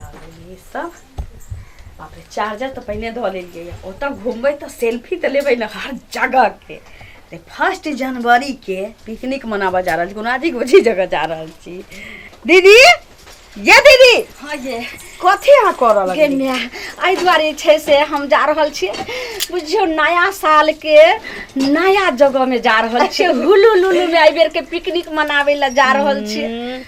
लेलियै सब बाप रे चार्जर तऽ पहिने धऽ लेलियै यऽ। ओतऽ घूमबै तऽ सेल्फी तऽ लेबै ने हर जगहके तऽ फर्स्ट जनवरीके पिकनिक मनाबऽ जा रहल छी कोनो अजीब अजीब जगह जा रहल छी दीदी ये दीदी हाँ ये कथी अहाँ करऽ गे लगलियै माय एहि दुआरे छै से हम जा रहल छी बुझियौ नया सालके नया जगहमे जा रहल छी हुलू लुलूमे एहि बेरके पिकनिक मनाबै लए जा रहल छी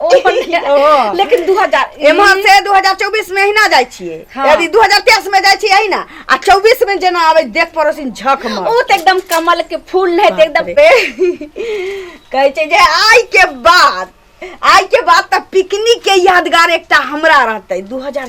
ओ अपन ओ। लेकिन दू हजार एम्हर से 2024 में अहिना जाइ छियै हाँ। यदि 2023 में जाइ छियै अहिना आ 24 में जेना आबै देख पड़ोसिन झक मार ओ तऽ एकदम कमल के फूल नहि तऽ एकदम पे कहै छै जे आइ के बाद आइ के बाद तऽ पिकनिक के यादगार एकटा हमरा रहतै 2000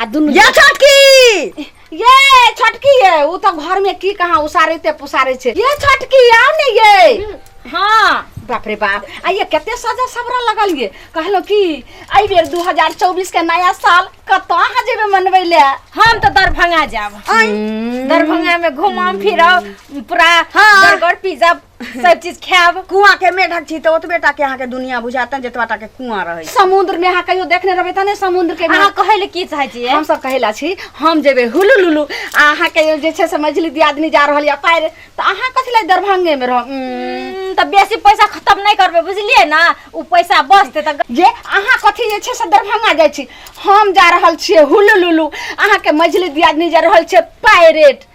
आ दुनू ये छोटकी ये छोटकी ये उ तो घर में की कहाँ उसारते पुसारे छे ये छोटकी आओ ने ये हाँ बाप रे बाप आ ये कते सजा सबरा लगल ये कहलो कि आई बेर 2024 के नया साल कत अहाँ जेबे मनबै ले हम तो दरभंगा जाब दरभंगा में घुमाम फिरब पूरा हाँ। बर्गर पिज्जा सब चीज खायब कुआं के मेढक छी तो ओतबे टा के अहाँ के दुनिया बुझाता जतबा टा के कुआं रहे समुद्र में अहाँ कहियो देखने रहबै तने समुद्र के अहाँ कहै ले की चाहै छियै हम सब कहैला छी हम जेबै हुलु लुलु आ अहाँ के जे छै से मझली दियादनी जा रहल या पार त अहाँ कथि ले दरभंगे में रह त बेसी पैसा खत्म नै करबै बुझलियै ना उ पैसा बचते त जे अहाँ कथि जे छै से दरभंगा जाइ छी हम जा रहल छियै हुलु लुलु अहाँ के मझली दियादनी जा रहल छै पायरेट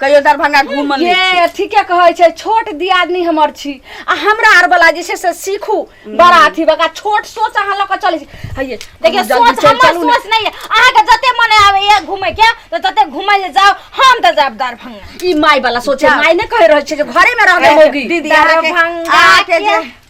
कहियो दरभंगा घूम ले ये ठीके कहै छै छोट दियादनी हमर छी आ हमरा आर वाला जे छै से सीखू बड़ा अथी बका छोट सोच अहाँ लऽ कऽ चलै छी हइये देखिए हम जल्दी सोच से हमर चलू ने। सोच नहीं है अहाँ के जते मन आवे ये घूमे के तो तते घूमे ले जाओ हम तो जाब दरभंगा ई माय वाला सोचे जा। माय ने कह रहल छै जे घरे में रहबे होगी दीदी अहाँके दरभंगा अहाँके जे के-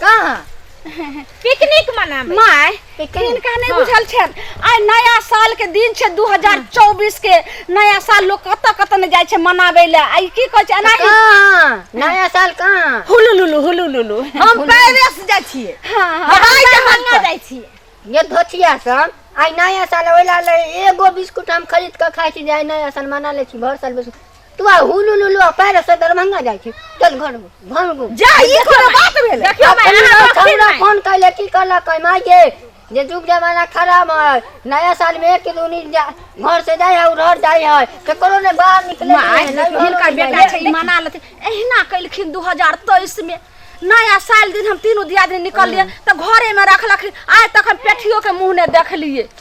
कहाँ पिकनिक मनाबे माय किनका नहीं बुझल छन आइ नया साल के दिन छै 2024 के नया साल लोग कत कत ने जाय छै मनाबे ले आइ की कहै छै एनाही कहाँ नया साल कहाँ हुलुलुलु हुलुलुलु हम पेरिस जाइ छिए हां हवाई जहाज से जाइ छिए ये धोतिया सब आइ नया साल ओइला ले एगो बिस्कुट हम खरीद के खाइ छी जे आइ नया साल मना ले छी भर साल बिस्कुट तू आ हुलू लुलू आ पैर से दरभंगा जाइ छी चल घर घर गो जा ई कोनो बात भेल देखियो माय अपन अहाँ लोग हमरा रखी फोन कैले की कहला कै माय ये जे जुग जमाना खराब है नया साल में एक दूनी जा- घर से जाय है उधर जाय है केकरो ने बाहर निकले माय नहीं, नहीं, हिनकर नहीं, बेटा नहीं। छै ई मना लेथिन एहिना कइलखिन 2023 में नया साल दिन हम तीनों दियादनी निकललिए तऽ घरे में रखलखिन आइ तक हम पेठियो के मुंह ने देखलिए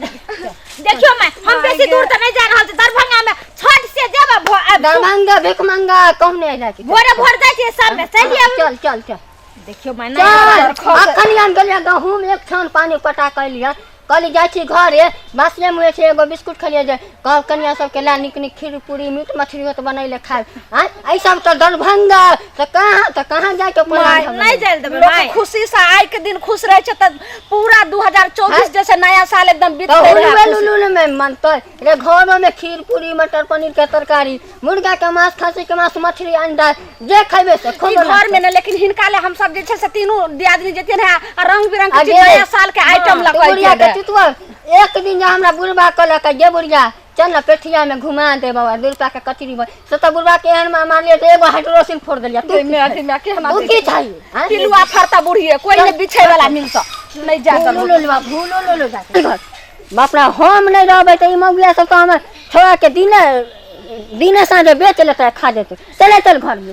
देखियो मैं हम बेसी दूर तो नहीं जा रहल छी दरभंगा में छठ से जेबा भो- आ- दरभंगा भिख मंगा कहने अइला कि भोरे भोर जाइ छी सब में चल आउ चल चल चल देखियो मैं चल नहीं अखन हम गेलियै गहूम एक छान पानी पटा कैलियै कहली जाइ छी घरे बासिए मुहे छै एगो बिस्कुट खेलियै जे कह कनिया सबके ला निक निक खीर पूरी मीट मछली होत बनैले खाए हैं ऐ सब तो दरभंगा तो कहाँ तो कहाँ जाए के प्लान माय हमने? नहीं जाइल देबे लोग माय खुशी से आइ के दिन खुश रहे छै त पूरा 2024 जैसे नया साल एकदम बीत तो गेल उलुए है लुलुल में मनते रे घरों में खीर पूरी मटर पनीर के तरकारी मुर्गा के मांस खस्सी के मांस मछली अंडा जे खैबे से ई खूब घर में ना लेकिन हिनका ले हम सब जे छै से तीनों दियादनी जेतियन है आ रंग बिरंग के चीज नया साल के आइटम लग बुढ़िया के चितुआ एक दिन जा हमरा बुढ़बा कहलक जे बुढ़िया चल ना पेठिया में घुमा दे बाबा दू रुपया के कचरी बन से तो बुढ़बा के एहन मार लिया तो एगो हाइड्रोसिन फोड़ दिलिया तू में अथी में के हम तू की चाहिए हाँ? पिलुआ फरता बुढ़िए कोई ने बिछे वाला मिल सा नहीं जा भूलो लो लो भूलो लो लो जाके घर। बाप रे हम नहीं रहबै तऽ ई मौगिया सब तऽ हमर छोड़ा के दिने दिने साँझे बेच लेतै खा जेतै चले चल घरमे